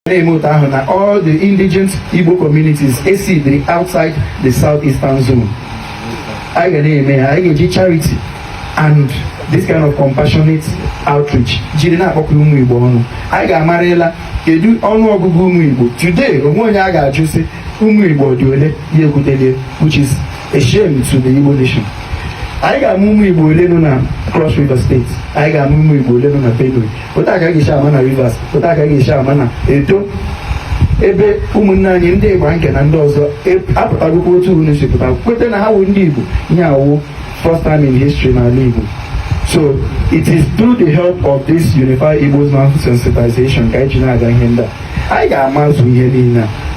na-eme otu ahụ na all the indigenous Igbo communities residing outside the southeastern zone anyị ga na-eme ya anyị ga-eji charity and this kind of compassionate outreach jiri na-akpọkọ ụmụ Igbo ọnụ anyị ga-amarịla kedu ọnụ ọgụgụ ụmụ Igbo today o nwe onye a ga-ajụ sị ụmụ Igbo dị ole ya ekwutelie which is a shame to the Igbo nation anyị ga-ama ụmụ Igbo ole nọ na Cross River State anyị ga-ama ụmụ Igbo ole nọ na Benue otu a ka a ga-esi ama na Rivers otu a ka a ga-esi ama na Edo ebe ụmụnne anyị ndị Igbanke na ndị ọzọ apụtagokwa otu unu si pụta kweta na ha wụ ndị Igbo ihe a wụ first time in history n'ala Igbo so it is through the help of this Unify Igbos Now sensitization ka anyị ji na-aga ihe ndị a anyị ga-amazu ihe niile a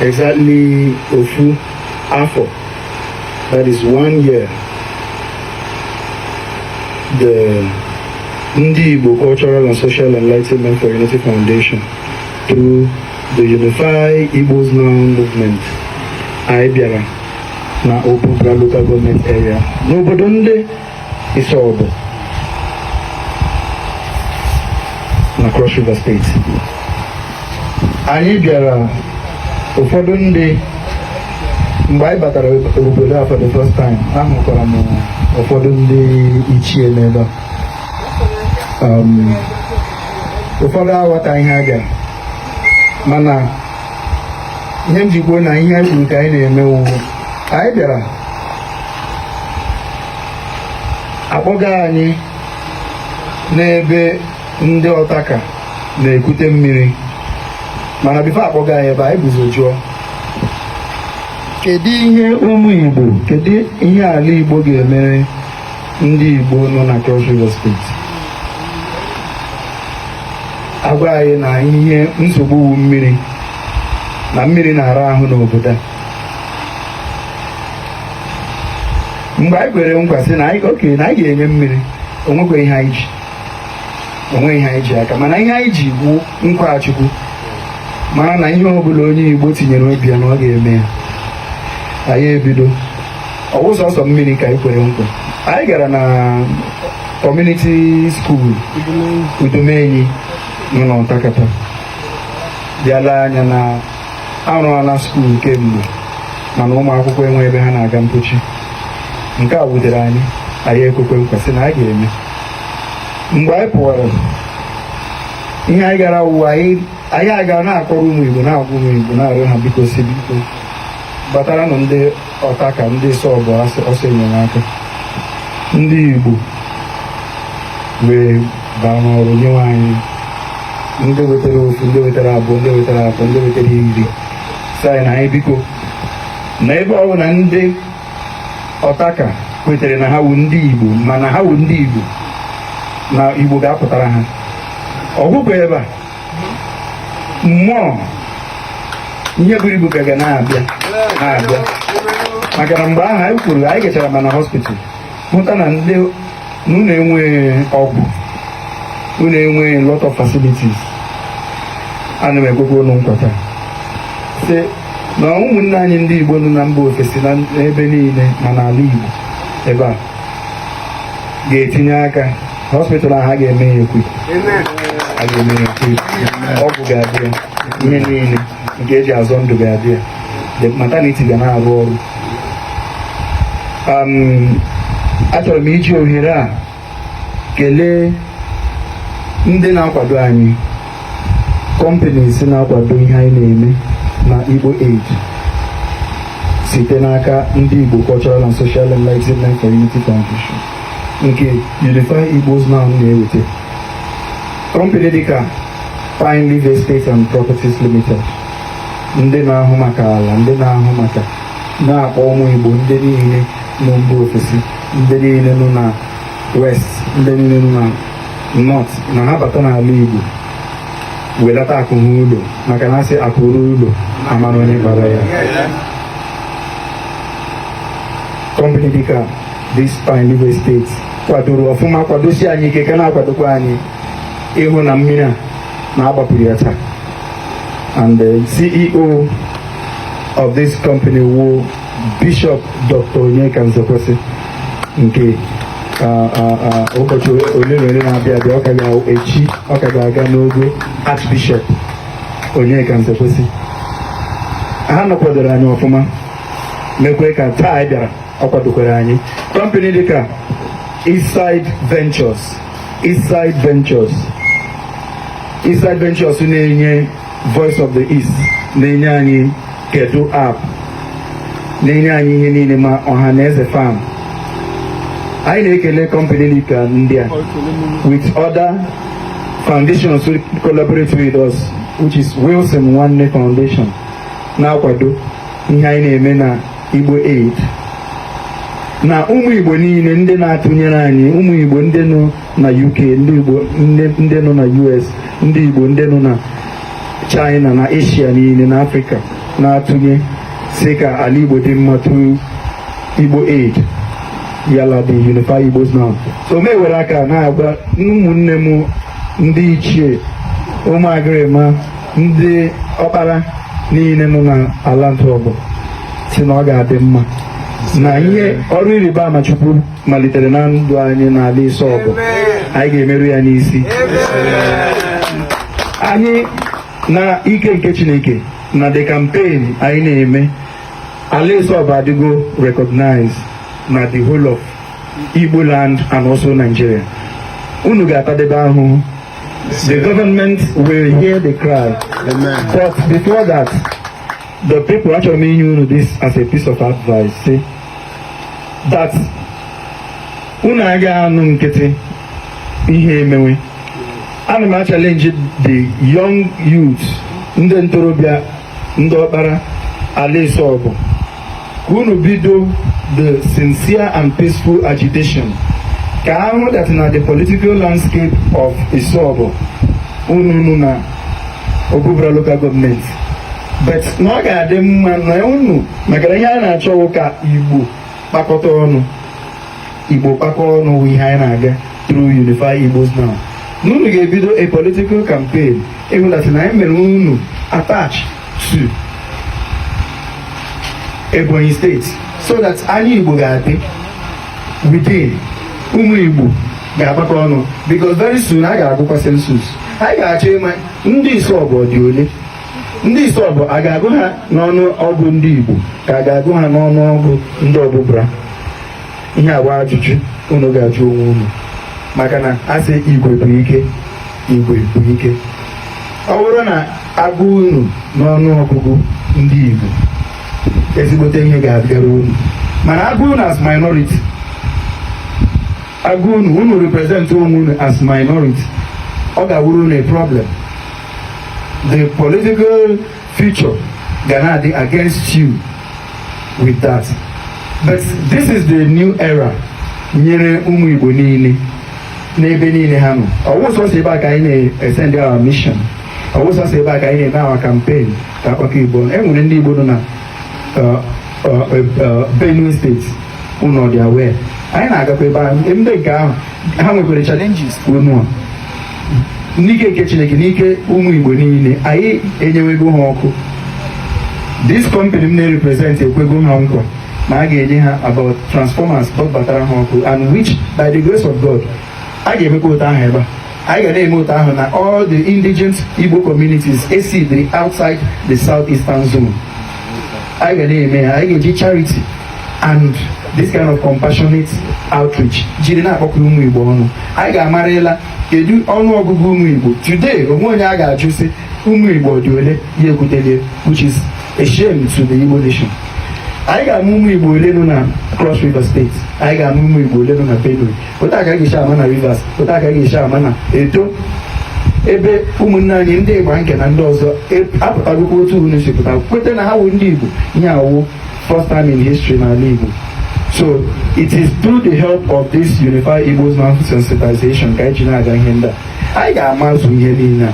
exactly ofu afọ that is one year the ndị Igbo Cultural and Social Enlightenment for Unity Foundation through the Unify Igbos Now movement anyị bịara na Obubra local government area n'obodo ndị Isobo na Cross River State anyị bịara ụfọdụ ndị mgbe anyị batara obodo a for the first time ahụkwara m ụfọdụ ndị ichie n'ebe a um, ụfọdụ aghọta ihe a bịara mana ihe m ji kwuo na ihe anyị kwuru ka anyị na-eme wụ anyị bịara a kpọga anyị n'ebe ndị Ọtaka na-ekute mmiri mana before a kpọga anyị ebe anyị bu ụzọ jụọ kedu ihe ụmụ igbo kedu ihe ala igbo ga-emere ndị igbo nọ na Cross River State a gwa anyị na ihe nsogbu wu mmiri na mmiri na-ara ahụ n'obodo a mgbe anyị kwere nkwa sị na anyị okay na anyị ga-enye mmiri o nwekwa ihe anyị ji o nwe ihe anyị ji aka mana ihe anyị ji wu nkwa Chukwu mara na ihe ọbụla onye igbo tinyere obi ya na ọ ga-eme ya anyị ebido ọ wụ sọsọ mmiri ka anyị kwere nkwa anyị gara na Community School Udomenyi nọ n'Ọtakata bịa la anya na a rụọla school kemgbe mana ụmụ akwụkwọ enwe ebe ha na-aga mpochi nke a wutere anyị anyị ekwekwe nkwa sị na a ga-eme mgbe anyị pụwara ihe anyị gara wụ anyị anyị aga na-akọrọ ụmụ igbo na-agwa ụmụ igbo na-arịọ ha biko sị biko gbataranụ ndị Ọtaka ndị Isobo ọsọ enyemaka ndị Igbo wee baa n'ọrụ nyewe anyị ndị wetara ofu ndị wetara abụọ ndị wetara atọ ndị wetara iri sị anyị na anyị biko na ebe ọ bụ na ndị Ọtaka kwetere na ha wụ ndị Igbo mana ha wụ ndị Igbo na Igbo ga-apụtara ha ọ gwụghị ebe a ụmụ ihe buru ibu ka ga na-abịa na-abịa maka na mgbe ahụ anyị kwuru anyị gachara ma na hospital hụta na ndị na unu enweghị ọgwụ unu enweghị lot of facilities ana m ekwekwa unu nkwa taa sị na ụmụnne anyị ndị Igbo nọ na mba ofesi na ebe niile ma n'ala Igbo ebe a ga-etinye aka hospital ahụ a ga-eme ya equip ọgwụ ga-adị ya ihe niile nke e ji azọ ndụ ga-adị ya the maternity ga na-arụ ọrụ um, achọrọ m iji ohere a kelee ndị na-akwado anyị companies na-akwado ihe anyị na-eme na Igbo Aid site n'aka ndị Igbo Cultural and Social Enlightenment for Unity Foundation nke Unify Igbos Now na-eweta company dịka Pineleaf Estate and Properties Limited ndị na-ahụ maka ala ndị na-ahụ maka na-akpọ ụmụ Igbo ndị niile nọ mba ofesi ndị niile nọ na west ndị niile nọ na north na ha bata n'ala Igbo welata akụ ha ụlọ maka na a sị akụ ruo ụlọ a mara onye kpara ya company dịka this Pineleaf Estate kwadoro ọfụma kwadosi anyị ike ka na-akwadokwa anyị ịhụ na mmiri a na-agbapụrụ ya taa and the CEO of this company wụ Bishop Dr. Onyeka Nzekwesị nke ụbọchị ole na ole na-abịa abịa ọ ka ga-echi ọ ka ga-aga n'ogo Archbishop Onyeka Nzekwesị ha nọ kwadoro anyị ọfụma mekwe ka taa anyị bịara ọ kwadokwara anyị company dịka Eastside Ventures Eastside Ventures na-enye Voice of the East na-enye anyị Kedu app na-enye anyị ihe niile ma ọha na eze farm anyị na-ekele company dịka ndị a with other foundations who collaborate with us which is Wilson Nwanne Foundation na-akwado ihe anyị na-eme na Igbo Aid na ụmụ Igbo niile ndị na-atụnyere anyị ụmụ Igbo ndị nọ na UK ndị Igbo ndị nọ na US ndị Igbo ndị nọ na China na Asia niile na Afrịka na-atụnye sị ka ala Igbo dị mma through Igbo Aid yala the Unify Igbos Now so m ewere aka na-agwa ụmụnne m ndị ichie ụmụ agịrịma ndị ọkpara niile nọ n'ala ntụ ọgbọ sị na ọ ga-adị mma na ihe ọrụ ịrịba ama Chukwu malitere na ndụ anyị n'ala Isobo anyị ga-emeru ya n'isi anyị na ike nke Chineke na the campaign anyị na-eme ala Isobo adịgo recognized na the whole of Igbo land and also Nigeria unu ga-atadebe ahụhụ The government will hear the cry. Amen. But before that, the people achọrọ m inye unu this as a piece of advice. See, that unu aga anọ nkịtị ihe emewe ana m achallenge the young youth ndị ntorobịa ndị ọkpara ala Isobo ka unu bido the sincere and peaceful agitation ka a hụ that na the political landscape of Isobo unu unu na Obubra local government but na ọ ga-adị mma na unu maka ihe a na-achọ wụ ka Igbo kpakọta ọnụ Igbo kpakọ ọnụ wụ ihe anyị na-aga through Unify Igbos Now na unu ga-ebido a political campaign ịhụ that na anyị mere unu attach to Ebonyi State so that anyị Igbo ga-adị within ụmụ Igbo ga-agbakọ ọnụ because very soon a ga-agụkwa census anyị ga-achọ ịma ndị Isobo dị ole ndị Isobo a ga-agụ ha n'ọnụ ọgụ ndị igbo ka a ga-agụ ha n'ọnụ ọgụ ndị Obubra ihe a bụ ajụjụ unu ga-ajụ onwe unu maka na a sị igwe bụ ike igwe bụ ike ọ bụrụ na a gụọ unu n'ọnụ ọgụgụ ndị igbo ezigbote ihe ga-abịara unu mana a gụọ unu as minority a gụọ unu unu represent onwe unu as minority ọ ga-awụrụ unu a problem the political future ga na-adị against you with that but this is the new era nyere ụmụ Igbo niile n'ebe niile ha nọ ọ wụ sọsọ ebe a ka anyị na-esend our mission ọ wụ sọsọ ebe a ka anyị na-eme our campaign ka a kpakọọ Igbo e nwere ndị Igbo nọ na uh, uh, uh, Benue State unu dị aware anyị na-agakwa ebe ahụ ndị nke ahụ ha nwekwara challenges unu n'ike nke chineke n'ike ụmụ igbo niile anyị enyewego ha ọkụ this company m na-represent ekwego ha nkwa na a ga-enye ha about transformers batara ha ọkụ and which by the grace of god a ga-emekwa otu ahụ ebe a anyị ga na-eme otu ahụ na all the indigent Igbo communities residing outside the southeastern zone anyị ga na-eme ya anyị ga-eji charity and this kind of compassionate outreach jiri na-akpọkọ ụmụ igbo ọnụ anyị ga-amarịla kedu ọnụ ọgụgụ ụmụ igbo today o nwe onye a ga-ajụ sị ụmụ igbo dị ole ya ekwutelie which is a shame to the igbo nation anyị ga-ama ụmụ igbo ole nọ na cross river state anyị ga-ama ụmụ igbo ole nọ na benue otu a ka a ga-esi ama na Rivers otu a ka a ga-esi ama na Edo ebe ụmụnne anyị ndị Igbanke na ndị ọzọ e- apụtagokwa otu unu si pụta kweta na ha wụ ndị Igbo ihe a wụ first time in history n'ala Igbo so it is through the help of this unified Igbo's man sensitization ka anyị ji na-aga ihe ndị a anyị ga-amazu ihe niile a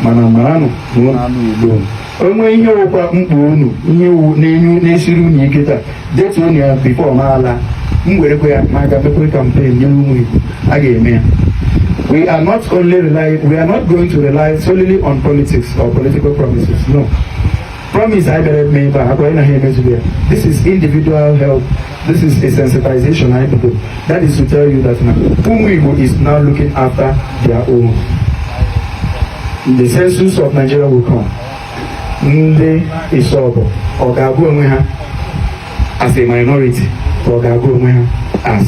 mana maranụ na ụlọ anụ Igbo o nwee ihe wụkwa mkpa unu ihe iwu na-enye na-esiri unu ike taa detuonụ ya before m alaa m werekwa ya m gaa mekwe campaign nye ụmụ Igbo a ga-eme ya we are not only rely we are not going to rely solely on politics or political promises no promise anyị bịara eme ebe a akwa anyị na ha emezughị ya this is individual help This is a sensitization I do. That is to tell you that now Ụmụ Igbo is now looking after their own. The census of Nigeria will come. Ndị Isobo ọ ga-agụ onwe ha as a minority ka ọ ga-agụ onwe ha as